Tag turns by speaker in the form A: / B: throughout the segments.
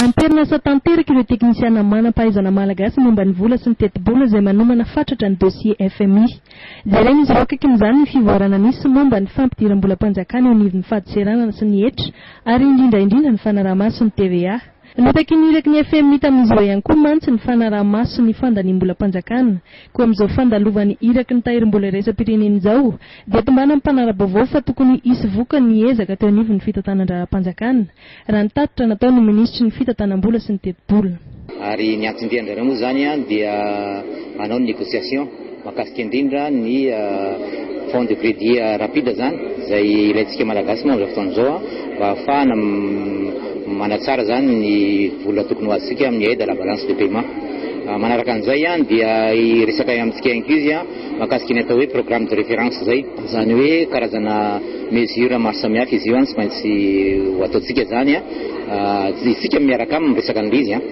A: Am-perinasa tanteraka ireo teknisiana manam-pahaizana malagasy momba ny vola sy ny tetibola izay manomana fatratra ny dossier fmi. Jeren'izy ireo akaiky amin'izany ny fivoarana misy momba ny fampidiram-bolam-panjakana eo anivon'ny fadin-tseranana sy ny hetra ary indrindra indrindra ny fanaraha-maso ny TVA. Nitaky ny iraky ny fmi tamin'izao ihany koa mantsy ny fanaraha-maso ny fandaniam-bolam-panjakana. Koa amin'izao fandalovan'ny iraky ny tahirim-bola iraisam-pirenena izao dia tombanan'ny mpanara-baovao fa tokony hisy vokany ny ezaka teo anivon'ny fitantanan-draharaham-panjakana, raha ny tatitra nataon'ny minisitry ny fitantanam-bola sy ny tetibola. Ary ny anton-diany
B: indray moa izany dia hanao ny négociation. Mahakasika indrindra ny Fonds de credit rapide zany izay ilaintsika Malagasy moa amin'izao fotoana izao mba ahafahana manatsara izany ny vola tokony ho azontsika amin'ny aide à la balance de paiement. Manaraka an'izay dia hiresaka amintsika ihany koa izy mahakasika ny atao hoe programme de référence izay. Izany hoe karazana mesures maro samihafa izy io tsy maintsy ho ataontsika izany isika miaraka aminy miresaka an'ilay izy.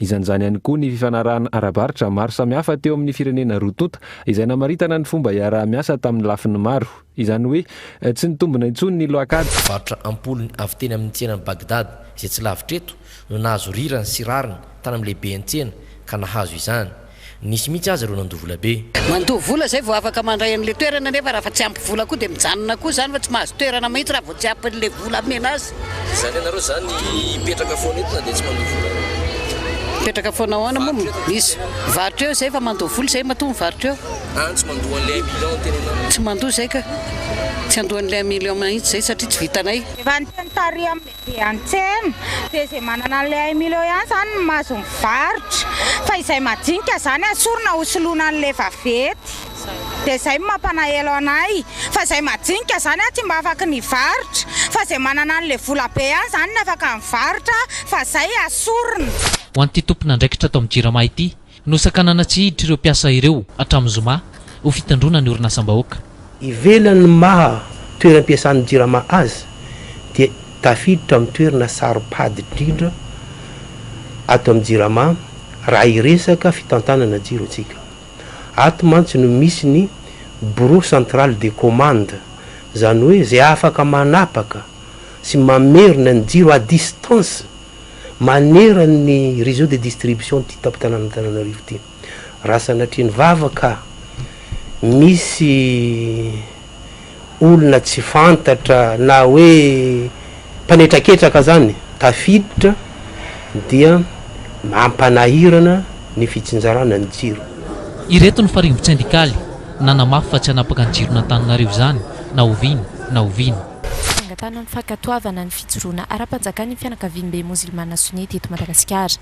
C: Izan'izany ihany koa ny fifanarahana ara-barotra maro samihafa teo amin'ny firenena roa tonta, izay namaritana ny fomba iaraha-miasa tamin'ny lafiny maro. Izany hoe, tsy nitombina intsony ny loakady. Varotra am-polony
D: avy teny amin'ny tsenan'i Baghdad, izay tsy lavitra eto, no nahazo rirany sy rariny tany amin'ny lehiben'ny tsena, ka nahazo izany. Nisy mihitsy aza ireo nandoa vola be. Mandoa vola izay vao
E: afaka mandray an'ilay toerana nefa raha fa tsy ampy vola koa dia mijanona koa izany fa tsy mahazo toerana mihitsy raha vao tsy ampy an'ilay vola amena azy. Izany ianareo izany
D: hipetraka foana eto na dia tsy mandoa vola aza? Mipetraka
E: foana ahoana moa no misy? Mivarotra eo izay fa mandoa vola izay matoa mivarotra eo. Any tsy mandoa an'ilay
D: un million no tenenanao? Tsy mandoa izay ka.
E: Tsy andoa an'ilay un million mihitsy izay satria tsy vitanay. Efa niteny tary
F: amin'ny. dia antsena dia izay manana an'ilay un million ihany izany no mahazo mivarotra fa izay madinika izany asorina ho soloina an'ilay vavety dia izay no mampanaelo anay fa izay madinika izany aho tsy mba afaka ny varotra fa izay manana an'ilay vola be ihany izany no afaka mivarotra fa izay asorina Ho an'ity
G: tompon'andraikitra ato amin'ny Jirama ity, Nosakanana tsy hiditra ireo mpiasa ireo hatramin'ny zoma ho fitandroana ny orinasam-bahoaka. Ivelan'ny
H: maha toeram-piasan'ny Jirama azy dia tafiditra amin'ny toerana saropady indrindra ato amin'ny Jirama raha hiresaka fitantanana jiro isika. Ato mantsy no misy ny Bureau Central de Commande, izany hoe izay afaka manapaka sy mamerina ny jiro à distance manerany ny réseau de distribution ty tampon-tanàn'Antananarivo ty. Raha sanatria ny vava ka misy olona tsy fantatra na hoe mpanetraketraka zany tafiditra dia mampanahirana ny fitsinjarana ny jiro. Ireto ny
G: farimbon-tsendikaly nanamafy fa tsy hanapaka ny jiron'Antananarivo izany na oviana na oviana. Fangatahana ny
I: fankatoavana ny fijoroana ara-panjakana ny fianakaviambe mozilmana Sunnite eto Madagasikara.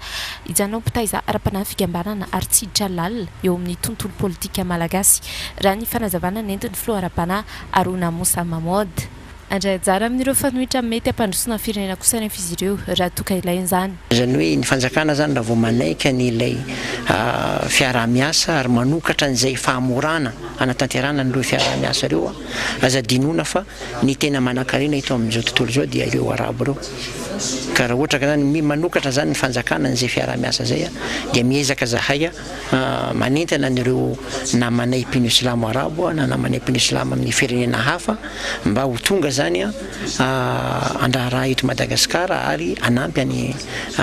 I: Hijanona ho mpitaiza ara-panahy fikambanana ary tsy hiditra lalina eo amin'ny tontolo politika malagasy, raha ny fanazavana nentin'ny filoha ara-panahy Haruna Moussa Mamoud. Handray anjara amin'ireo fanohitra mety hampandrosoana ny firenena kosa anefa izy ireo raha toa ka ilaina izany. Izany hoe ny fanjakana
J: izany raha vao manaiky an'ilay fiaraha-miasa ary manokatra an'izay fahamorana hanatanterahana an'ireo fiaraha-miasa ireo, Aza adinoina fa ny tena manankarena eto amin'izao tontolo izao dia ireo Arabo ireo. Ka raha ohatra ka zany mi manokatra zany ny fanjakana an'izay fiaraha-miasa zay a, dia miezaka zahay a manentana an'ireo namanay mpino silamo Arabo na namanay mpino silamo amin'ny firenena hafa mba ho tonga zany a, handraharaha eto Madagasikara ary hanampy
K: an'i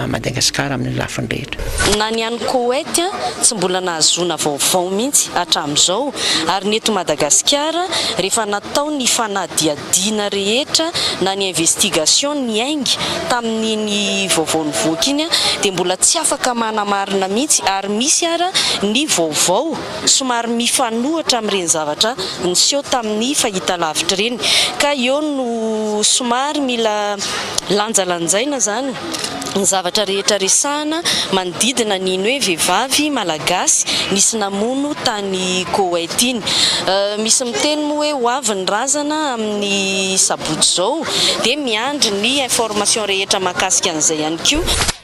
J: Madagasikara amin'ny lafiny
K: rehetra.
J: Na ny
K: any
J: Koweït
K: tsy mbola nahazoana vaovao mihitsy hatramin'izao ary ny eto Madagasikara rehefa natao ny fanadihadiana rehetra na ny investigation niainga tamin'iny vaovao nivoaka iny dia mbola tsy afaka manamarina mihitsy ary misy ara ny vaovao Somary mifanohitra amin'ireny zavatra niseho tamin'ny fahitalavitra ireny ka eo no somary mila lanjalanjaina izany ny zavatra rehetra resahana manodidina an'iny hoe vehivavy malagasy nisy namono tany Koweït iny. Misy miteny moa hoe ho avy ny razana amin'ny sabotsy izao dia miandry ny information rehetra mahakasika an'izay ihany koa.